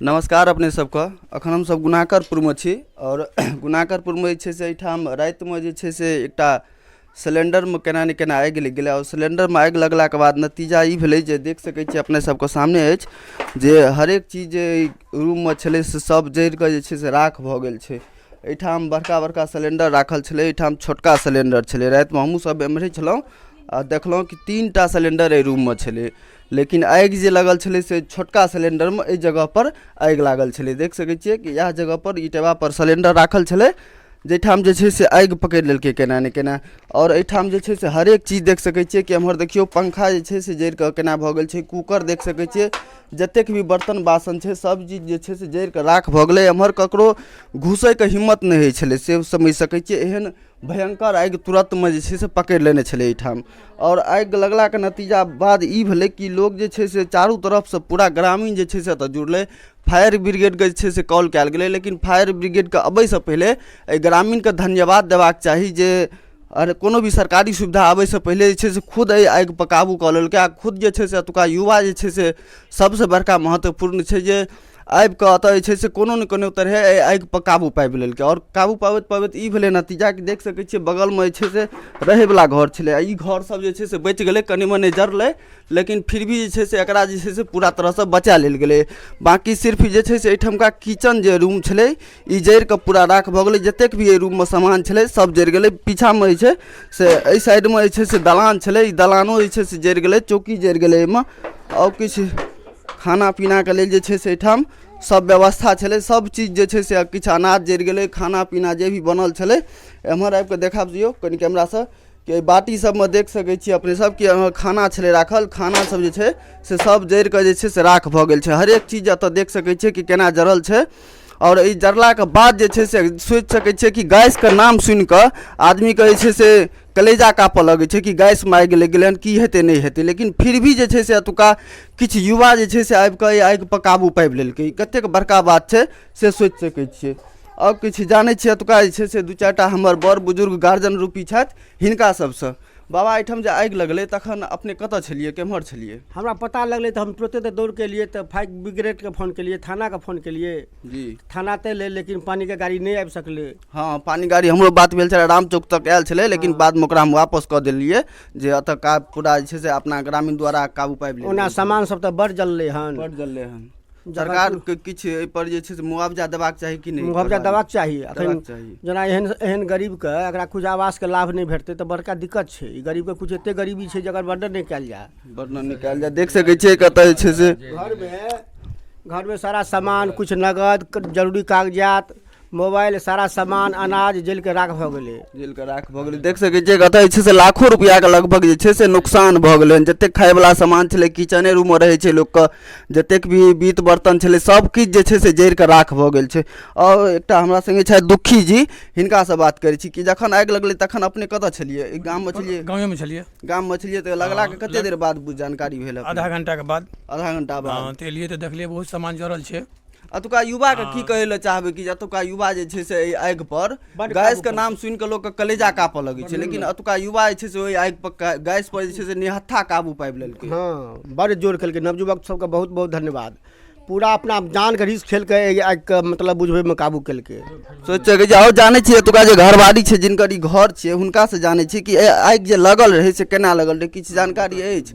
नमस्कार अपने सबके अखन हमसब गुनाकरपुर मे छी आओर गुनाकरपुर मे जे छै से एहिठाम राति मे जे छै से एकटा सिलेंडर मे केना ने केना आगि लागि गेलै आओर सिलेंडर मे आगि लगला के बाद नतीजा ई भेलै जे देख सकै छियै अपने सबके सामने अछि जे हरेक चीज जे रूम मे छलै से सब जरि कऽ जे छै से राख भऽ गेल छै एहिठाम बड़का बड़का सिलेंडर राखल छलै एहिठाम छोटका सिलेंडर छलै राति मे हमहुँ सब एमहरे छलहुॅं आ देखलहुॅं कि तीन टा सिलेंडर एहि रूम मे छलै लेकिन आगि जे लगल छलै से छोटका सिलेंडरमे एहि जगहपर आगि लागल छलै देख सकै छियै कि इएह जगहपर ई टेबापर सिलेंडर राखल छलै जाहिठाम जे छै से आगि पकड़ि लेलकै केना ने केना आओर एहिठाम जे छै से हरेक चीज देख सकै छियै कि एम्हर देखियौ पंखा जे छै से जरि कऽ केना भऽ गेल छै कूकर देख सकै छियै जतेक भी बर्तन बासन छै सभ चीज जे छै से जरि कऽ राख भऽ गेलै एम्हर ककरो घुसैके हिम्मत नहि होइ छलै से समझि सकै छियै एहन भयङ्कर आगि तुरन्तमे जे छै से पकड़ि लेने छलै एहिठाम आओर आगि लगलाके नतीजा बाद ई भेलै कि लोक जे छै से चारू तरफसँ पूरा ग्रामीण जे छै से एतय जुड़लै फायर ब्रिगेडके जे छै से कॉल कयल गेलै लेकिन फायर ब्रिगेडके अबयसँ पहिले एहि ग्रामीणकेँ धन्यवाद देबाक चाही जे अरे कोनो भी सरकारी सुविधा आबयसँ पहिले जे छै से खुद एहि आगिपर काबू कऽ लेलकै आ खुद जे छै से एतुक्का युवा जे छै से सभसँ बड़का महत्वपूर्ण छै जे आबि कऽ एतऽ जे छै से कोनो ने कोनो तरहे एहि आगिपर काबू पाबि लेलकै आओर काबू पाबैत पाबैत ई भेलै नतीजा कि देख सकै छियै बगलमे जे छै से रहैवला घर छलै आओर ई घरसभ जे छै से बचि गेलै कनि मनि जरलै लेकिन फिर भी जे छै से एकरा जे छै से पूरा तरहसँ बचा लेल गेलै बाँकी सिर्फ जे छै से एहिठामका किचन जे रूम छलै ई जरि कऽ पूरा राख भऽ गेलै जतेक भी एहि रूममे सामान छलै सभ जरि गेलै पीछाँमे जे छै से एहि साइडमे जे छै से दलान छलै ई दलानो जे छै से जरि गेलै चौकी जरि गेलै एहिमे आओर किछु खाना पीनाके लेल जे छै से एहिठाम सब व्यवस्था छलै सब चीज जे छै से किछु अनाज जरि गेलै खाना पीना जे भी बनल छलै एम्हर आबि कऽ देखा दियौ कनि कैमरासँ कि एहि बाटी सबमे देख सकै छियै अपने सब कि अहाँ खाना छलै राखल खाना सब जे छै से सब जरि कऽ जे छै से राख भऽ गेल छै हरेक चीज एतऽ देख सकै छियै कि केना जरल छै आओर ई जरलाके बाद जे छै से सोचि सकै छियै कि गैसके नाम सुनि कऽ आदमीके जे छै से कलेजा कापऽ लगै छै कि गैस मारि गेलै गेलै हन की हेतै नहि हेतै लेकिन फिर भी जे छै से एतुका किछु युवा जे छै से आबि कऽ एहि आगिपर काबू पाबि लेलकै कतेक बड़का बात छै से सोचि सकै छियै आओर किछु जानै छियै एतुका जे छै से दू चारि टा हमर बड़ बुजुर्ग गार्जियन रूपी छथि हिनका सभसँ बाबा एहिठाम जे आगि लगलै तखन अपने कतऽ छलियै केम्हर छलियै हमरा पता लगलै तऽ हम तुरते तऽ दौड़ केलियै तऽ फायर ब्रिगेडके फोन केलियै थानाके फोन केलियै जी थाना तऽ एलै लेकिन पानिके गाड़ी नहि आबि सकलै हँ पानि गाड़ी हमरो बात भेल छलै राम चौक तक आयल छलै लेकिन हँ। बादमे ओकरा हम वापस कऽ देलियै जे एतऽ का पूरा जे छै से अपना ग्रामीण द्वारा काबू पाबि लेलियै ओना सामान सब तऽ बड़ जललै हन बड जललै हन जखन सरकार के किछु एहिपर जे छै से मुआवजा देबाक चाही कि नहि मुआवजा एहिपर? देबाक चाही अखन देबाक चाही जेना एहन एहन गरीबके एकरा किछु आवासके लाभ नहि भेटतै तऽ बड़का दिक्कत छै ई गरीबके किछु एतेक गरीबी छै जकर वर्णन नहि कयल जाय वर्णन निकाल जाए देख सकै छियै कतऽ जे छै से घरमे घरमे सारा सामान किछु नगद क- जरूरी कागजात मोबाइल सारा सामान अनाज जलिके राख भऽ गेलै जेलके राख भऽ गेलै देख सकै छियै कतऽ जे छै से लाखो रुपैआके लगभग जे छै से नुकसान भऽ गेलै हन जतेक खायवला सामान छलै किचने रूममे रहै छै लोकके जतेक भी बीत बर्तन छलै सब किछु जे छै से जरि कऽ राख भऽ गेल छै आओर एकटा हमरा संगे छथि दुखी जी हिनकासँ बात करै छी कि जखन आगि लगलै तखन अपने कतऽ छलियै ई गाममे छलियै गाँवेमे छलियै गाममे छलियै तऽ लगलाके कते देर बाद बुझ- जानकारी भेल अपने? आधा घंटाके बाद आधा घंटा बाद हाँ, तऽ एलियै तऽ देखलियै बहुत सामान जड़ल छै अतुका युवा के की कहे ले चाहबे कि अतुका युवा जे छै से आग पर गैस के नाम सुन के लोग के कलेजा कापे लगे छै लेकिन अतुका युवा जे छै से ओहि आग पर गैस पर जे छै से निहत्था काबू पाबि लेलकै हाँ बड़ जोर खेलकै नवजुवक सबके बहुत बहुत धन्यवाद पूरा अपना जान के रिस खेल के आग के मतलब बुझबे में काबू केलकै सोचे कि जाओ जाने छियै एतुका जे घरवाली छै जिनकर ई घर छियै हुनका से जाने छियै कि आग जे लगल रहे से केना लगल रहे किछु जानकारी अछि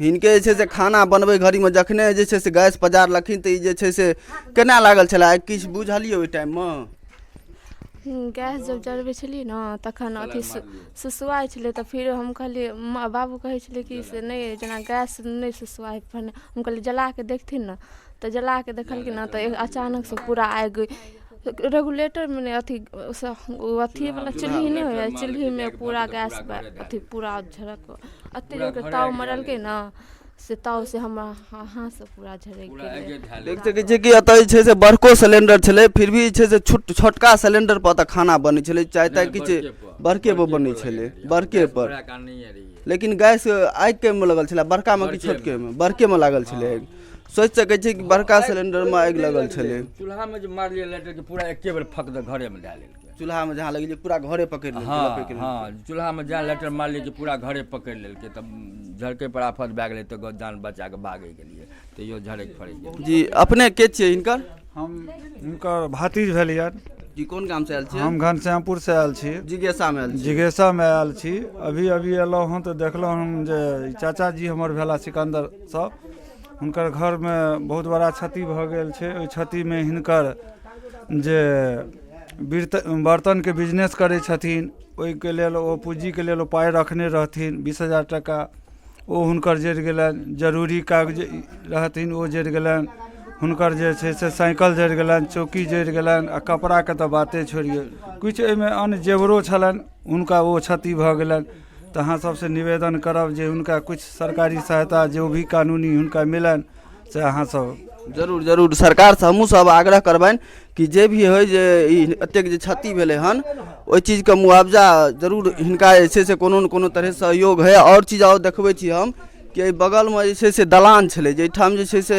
हिनके जे छै से खाना बनबै घड़ीमे जखने जे छै से गैस पजारलखिन तऽ ई जे छै से केना लागल छलै आइ किछु बुझलियै ओहि टाइममे गैस जब जरबै छलियै ने तखन अथी सुसुआइ छलै तऽ फेर हम कहलियै माँ बाबू कहै छलै कि से नहि जेना गैस नहि सुसुआइ हम कहलियै जला कऽ देखथिन ने तऽ जला कऽ देखलखिन ने तऽ अचानकसँ पूरा आगि रेगुलेटरमे नहि अथी अथीवला चुल्हि नहि होइए चुल्हिमे पूरा गैस अथी पूरा झरक एतेक जोरके ताव मरलकै ने से ताव से हमरा हाथसँ पूरा झरकि गेलै देख सकै छियै कि एतऽ जे छै से बड़को सिलेंडर छलै फिर भी जे छै से छोट छोटका सिलेंडर पर एतऽ खाना बनै छलै चाहे ताहे किछु बड़के पर बनै छलै बड़के पर लेकिन गैस आगिके मे लगल छलै बड़कामे कि छोटकेमे बड़केमे लागल छलै आगि सोचि सकै छी कि बड़का सिलेंडरमे आगि लगल छलै चूल्हामे जे मारलियै लाइटरके पूरा एके बेर फक दे घरेमे डाल लेलकै चूल्हामे जहाँ लगेलियै पूरा घरे पकड़ि लेलकै हँ लपकि लेलकै। हँ चूल्हामे जहाँ लाइटर मारलियै कि पूरा घरे पकड़ि लेलकै तब झड़कै पर आफत भए गेलै तऽ गो- जान बचा कऽ भागै गेलियै तैयो झड़क फड़क गेलै जी अपने के छियै हिनकर हम हुनकर भतीज भेलियन जी कोन गामसँ आयल छियै हम घनश्यामपुरसँ आयल छी जिज्ञासामे आयल छियै जिज्ञासामे आयल छी अभी अभी एलहुँ हँ तऽ देखलहुँ हम जे ई चाचाजी हमर भेला सिकंदर सभ हुनकर घरमे बहुत बड़ा क्षति भऽ गेल छै ओहि क्षतिमे हिनकर जे बिर्त बरतनके बिजनेस करै छथिन ओहिके लेल ओ पूँजीके लेल ओ पाइ रखने रहथिन बीस हजार टाका ओ हुनकर जरि गेलनि जरूरी कागज रहथिन ओ जरि गेलनि हुनकर जे छै से साइकल जरि गेलनि चौकी जरि गेलनि आ कपड़ाके तऽ बाते छोड़ियौ किछु ओहिमे अन्न जेवरो छलनि हुनका ओ क्षति भऽ गेलनि तऽ अहाँ सबसँ निवेदन करब जे हुनका किछु सरकारी सहायता जे भी कानूनी हुनका मिलनि से अहाँ सब जरूर जरूर सरकारसँ हमहूँ सब आग्रह करबनि कि जे भी होइ जे ई एतेक जे क्षति भेलै हन ओहि चीजके मुआवजा जरूर हिनका जे छै से कोनो ने कोनो तरह सहयोग होइ आओर चीज आओर देखबै छी हम कि एहि बगलमे जे छै से दलान छलै जाहिठाम जे छै से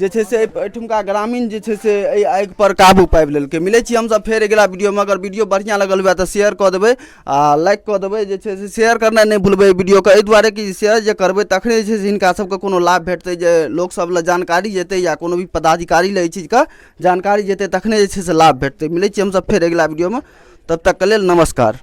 जे छै से एहिठुमका ग्रामीण जे छै से एहि आगि पर काबू पाबि लेलकै मिलै छी हमसभ फेर अगिला वीडियोमे अगर वीडियो बढ़िआँ लगल हुए तऽ शेयर कऽ देबै आ लाइक कऽ देबै जे छै से शेयर करनाइ नहि भूलबै वीडियोके एहि दुआरे कि शेयर जे करबै तखने जे छै से हिनका सभके कोनो लाभ भेटतै जे लोकसभ लए जानकारी जेतै या कोनो भी पदाधिकारी लए एहि चीजके जानकारी जेतै तखने जे छै से लाभ भेटतै मिलै छी हमसभ फेर अगिला वीडियोमे तब तकके लेल नमस्कार